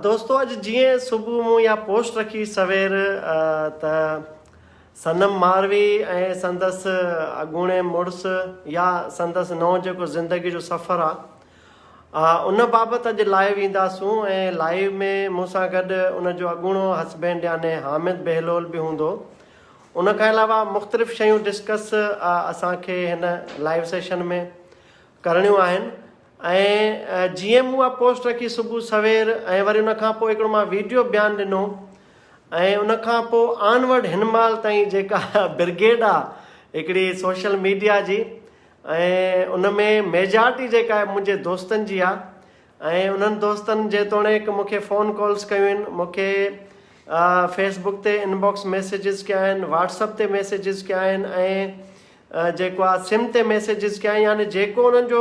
دوستو اڄ جيئن صبح مون يا پوسٽ رکي سوير ته صنم ماروي ۽ سندس اڳوڻي مڙس يا سندس نو جيڪو زندگي جو سفر آ ان بابت اڄ لائيو اينداسون ۽ لائيو ۾ مون سان گڏ ان جو اڳوڻو هسبينڊ يعني حامد بهلول به هوندو ان کان علاوه مختلف شيون ڊسڪس اسان کي هن لائيو سيشن ۾ ڪرڻيون آهن ۽ جيئن مون اها پوسٽ رکي صبح سوير ۽ وري ان کان پوء هڪڙو مان ويڊيو بيان ڏنو ۽ ان کان پوء آن ورڊ هن مهل تائين جيڪا برگيڊ آهي هڪڙي سوشل ميڊيا جي ۽ ان ۾ ميجارٽي جيڪا آهي منهنجي دوستن جي آهي ۽ انهن دوستن جيتوڻيڪ مون کي فون ڪالز ڪيون آهن مون کي فيس بڪ تي ان باڪس ميسيجز ڪيا آهن واٽس اپ تي ميسيجز ڪيا آهن ۽ جيڪو آء سم تي ميسيجز ڪيا يعني جيڪو انهن جو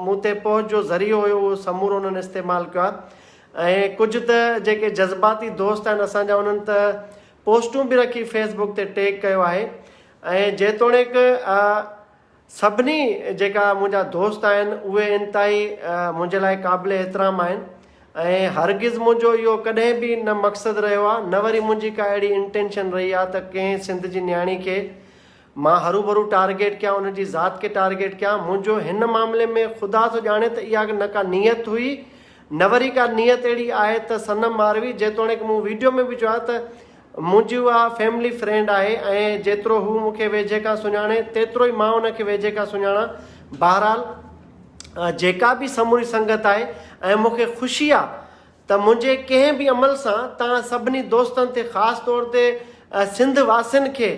مون تي پهچ جو ذريعو هيو اهو سمورو انهن استعمال ڪيو آهي ۽ ڪجهه ته جيڪي جذباتي دوست آهن اسان جا انهن ته پوسٽون به رکي فيس بڪ تي ٽيگ ڪيو آهي ۽ جيتوڻيڪ سڀني جيڪا منهنجا دوست آهن اهي انتهائي منهنجي لاء قابل احترام آهن ۽ هرگز منهنجو اهو ڪڏهن به نه مقصد رهيو آهي نه وري منهنجي ڪا اهڙي انٽينشن رهي آهي ته ڪنهن سنڌ جي نياڻي کي مان هروڀرو ٽارگيٽ ڪيان ان جي ذات کي ٽارگيٽ ڪيان منهنجو هن معاملي ۾ خدا ٿو ڄاڻي ته اها نه ڪا نيت هئي نه وري ڪا نيت اهڙي آهي ته صنم ماروي جيتوڻيڪ مون ويڊيو ۾ به چيو آهي ته منهنجي اها فيملي فرينڊ آهي ۽ جيترو هو مون کي ويجهي کان سڃاڻي تيترو ئي مان ان کي ويجهي کان سڃاڻان بهرحال جيڪا به سموري سنگت آهي ۽ مون کي خوشي آهي ته منهنجي ڪنهن به عمل سان توهان سڀني دوستن تي خاص طور تي سنڌ واسين کي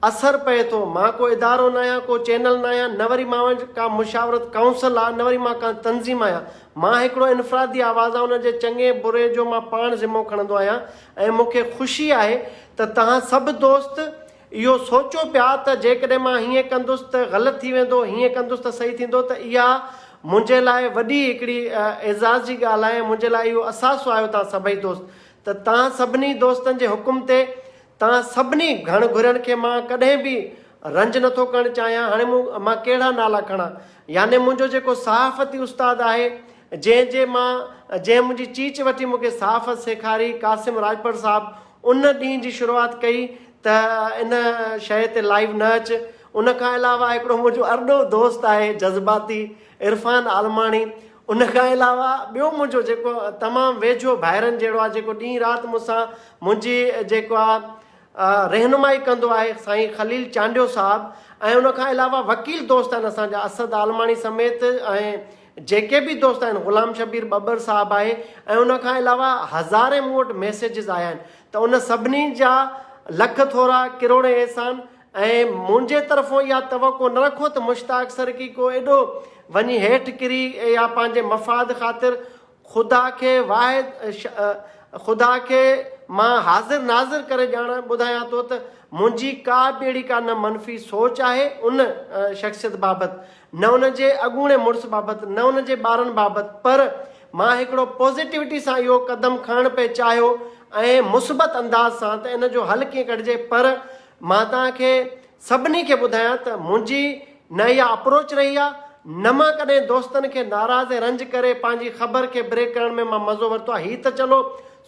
اثر پئي ٿو. مان ڪو ادارو ناهيان، ڪو چينل ناهيان، نه وري مان وٽ ڪا مشاورت ڪائونسل آ، نه وري مان ڪا تنظيم آهيان. مان هڪڙو انفرادي آواز آهيان ان جي چڱي بري جو مان پاڻ ذمو کڻندو آهيان ۽ مون کي خوشي آهي ته توهان سڀ دوست اهو سوچو پيا ته جيڪڏهن مان هيئن ڪندس ته غلط ٿي ويندو، هيئن ڪندس ته صحيح ٿيندو ته اها منهنجي لاء وڏي هڪڙي اعزاز جي ڳالهه آهي ۽ منهنجي لاء اهو اثاثو آهيو توهان سڀئي دوست ته توهان سڀني دوستن جي حڪم تي توهان سڀني گهڻ گهرين کي مان ڪڏهن به رنج نٿو ڪرڻ چاهيان هاڻي مون مان ڪهڙا نالا کڻان يعني منهنجو جيڪو صحافتي استاد آهي جنهن جي مان جنهن منهنجي چيچ وٺي مون کي صحافت سيکاري قاسم راڄپر صاحب ان ڏينهن جي شروعات ڪئي ته ان شيء تي لائيو نه اچ ان کان علاوه هڪڙو منهنجو ارڏو دوست آهي جذباتي عرفان عالماڻي ان کان علاوه ٻيو منهنجو جيڪو تمام ويجهو ڀائرن جهڙو آهي جيڪو ڏينهن رات مون سان منهنجي جيڪو آهي رهنمائي ڪندو آهي سائين خليل چانڊيو صاحب ۽ ان کان علاوه وڪيل دوست آهن اسان جا اسد عالماڻي سميت ۽ جيڪي به دوست آهن غلام شبير ٻٻر صاحب آهي ۽ ان کان علاوه هزارين مون وٽ ميسيجز آيا آهن ته ان سڀني جا لک ٿورا ڪروڙين احسان ۽ منهنجي طرفون اها توقع نه رکو ته مشتاق سرڪي ڪو ايڏو وڃي هيٺ ڪري يا پنهنجي مفاد خاطر خدا کي واحد خدا کي مان حاضر ناظر ڪري ڄاڻان ٻڌايان ٿو ته منهنجي ڪا به اهڙي ڪا نه منفي سوچ آهي ان شخصيت بابت، نه ان جي اڳوڻي مڙس بابت، نه ان جي ٻارن بابت پر مان هڪڙو پازيٽوٽي سان اهو قدم کڻڻ پئي چاهيو ۽ مثبت انداز سان ته ان جو حل ڪيئن ڪڍجي پر مان توهان کي سڀني کي ٻڌايان ته منهنجي نه اها اپروچ رهي آهي نه مان ڪڏهن دوستن کي ناراض ۽ رنج ڪري پنهنجي خبر کي بريڪ ڪرڻ ۾ مان مزو ورتو آهي هي ته چلو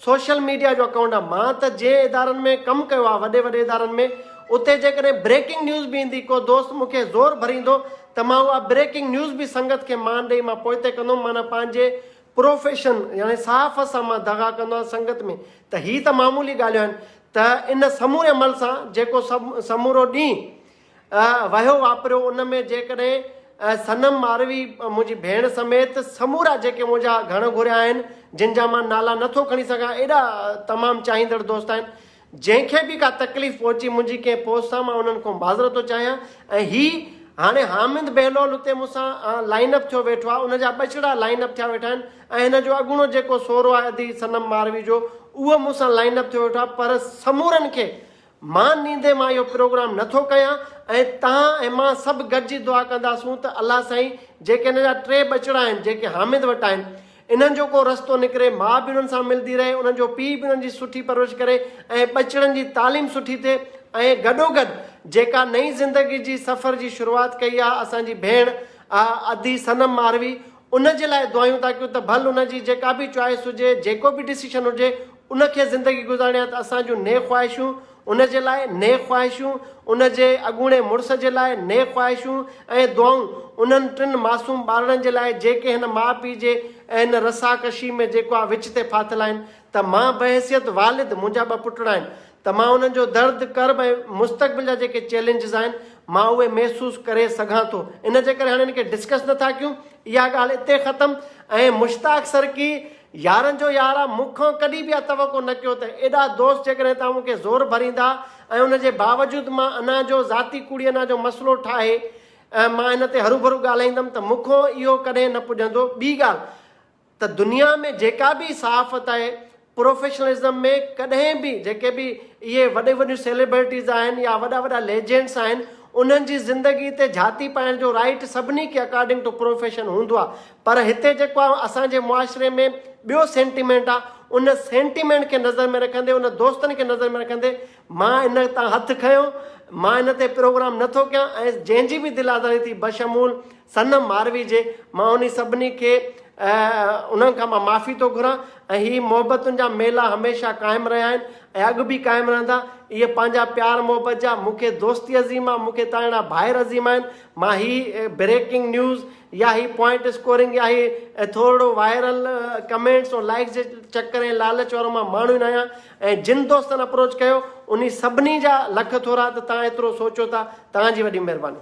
سوشل ميڊيا جو اڪائونٽ آهي مان ته جنهن ادارن ۾ ڪم ڪيو آهي وڏي وڏي ادارن ۾ اتي جيڪڏهن بريڪنگ نيوز به ايندي ڪو دوست مون کي زور ڀريندو ته مان اها بريڪنگ نيوز به سنگت کي مان ڏئي مان پوئتي ڪندو هوم معنيٰ پنهنجي پروفيشن يعني صحافت سان مان دغا ڪندو آهيان سنگت ۾ ته هي ته معمولي ڳالهيون آهن ته ان سموري عمل سان جيڪو سمورو ڏينهن وهيو واپريو ان ۾ جيڪڏهن صنم ماروي منهنجي ڀيڻ سميت سمورا جيڪي منهنجا گهڻ گهريا آهن جن جا مان نالا نٿو کڻي سگهان ايڏا تمام چاهيندڙ دوست آهن جنهن کي به ڪا تڪليف پهچي منهنجي ڪنهن پوسٽ سان مان انهن کان معذرت ٿو چاهيان ۽ هي هاڻي حامد بهلول اتي مون سان لائن اپ ٿيو ويٺو آهي ان جا ٻچڙا لائن اپ ٿيا ويٺا آهن ۽ هن جو اڳوڻو جيڪو سورو آهي ادي صنم ماروي جو اهو مون سان لائن اپ ٿيو ويٺو آهي پر سمورن کي مان نيندي مان اهو پروگرام نه ٿو ڪيان ۽ توهان ۽ مان سڀ گڏجي دعا ڪنداسون ته الله سائين جيڪي هن جا ٽي ٻچڙا آهن جيڪي حامد وٽ آهن انهن جو ڪو رستو نڪري ماء به انهن سان ملندي رهي انهن جو پيء به انهن جي سٺي پرورش ڪري ۽ ٻچڙن جي تعليم سٺي ٿئي ۽ گڏوگڏ جيڪا نئين زندگي جي سفر جي شروعات ڪئي آهي اسان جي ڀيڻ ادي صنم ماروي ان جي لاء دعايون ٿا ڪيون ته ڀل ان جي جيڪا به چوائس هجي جيڪو به ڊسيشن هجي ان کي زندگي گذارڻي آهي ته اسان جون نيڪ خواهشون ان جي لاء، نيڪ خواهشون ان جي اڳوڻي مڙس جي لاء، نيڪ خواهشون ۽ دعائون انهن ٽن معصوم ٻارڙن جي لاء جيڪي هن ماء پيء جي ۽ هن رسا ڪشي ۾ جيڪو آء وچ تي ڦاٿل آهن ته مان بحيثيت والد منهنجا ٻه پٽڙا آهن ته مان انهن جو درد، ڪرب ۽ مستقبل جا جيڪي چئلينجز آهن مان اهي محسوس ڪري سگهان ٿو ان جي ڪري هاڻي ان کي ڊسڪس نه ٿا ڪيون اها ڳالهه اتي ختم ۽ مشتاق سرڪي. يارن جو يار آ، مون کان ڪڏهن به اها توقع نه ڪيو ته ايڏا دوست جيڪڏهن توهان مون کي زور ڀريندا ۽ ان جي باوجود مان انا جو ذاتي ڪوڙي انا جو مسئلو ٺاهي مان ان تي هروڀرو ڳالهائيندم ته مون کان اهو ڪڏهن نه پڄندو ٻي ڳالهه ته دنيا ۾ جيڪا به صحافت آهي پروفيشنلزم ۾ ڪڏهن به جيڪي به اهي وڏيون وڏيون سيلبرٽيز آهن يا وڏا وڏا ليجينڊس آهن انهن جي زندگي تي جهاتي پائڻ جو رائيٽ سڀني کي اڪارڊنگ ٽو پروفيشن هوندو آهي پر هتي جيڪو آهي اسان جي معاشري ۾ ٻيو سينٽيمينٽ آهي ان سينٽيمينٽ کي نظر ۾ رکندي ان دوستن کي نظر ۾ رکندي مان ان تان هٿ کنيو مان ان تي پروگرام نٿو ڪيان ۽ جنهن جي به دل آزاري ٿي بشمول صنم ماروي جي مان انهي سڀني کي انهن کان مان معافي ٿو گهران ۽ هي محبتن جا ميلا هميشه قائم رهيا آهن ۽ اڳ به قائم رهندا اهي پنهنجا پيار محبت جا مون کي دوستي عظيم آهي مون کي تان اهڙا ڀائر عظيم آهن مان هي بريڪنگ نيوز يا هي پوائنٽ اسڪورنگ يا هي ٿورڙو وائرل ڪمينٽس ۽ لائڪس جي چڪر ۽ لالچ وارو مان ماڻهو ئي نه آهيان ۽ جن دوستن اپروچ ڪيو انهي سڀني جا لک ٿورا ته توهان ايترو سوچيو ٿا توهان جي وڏي مهرباني.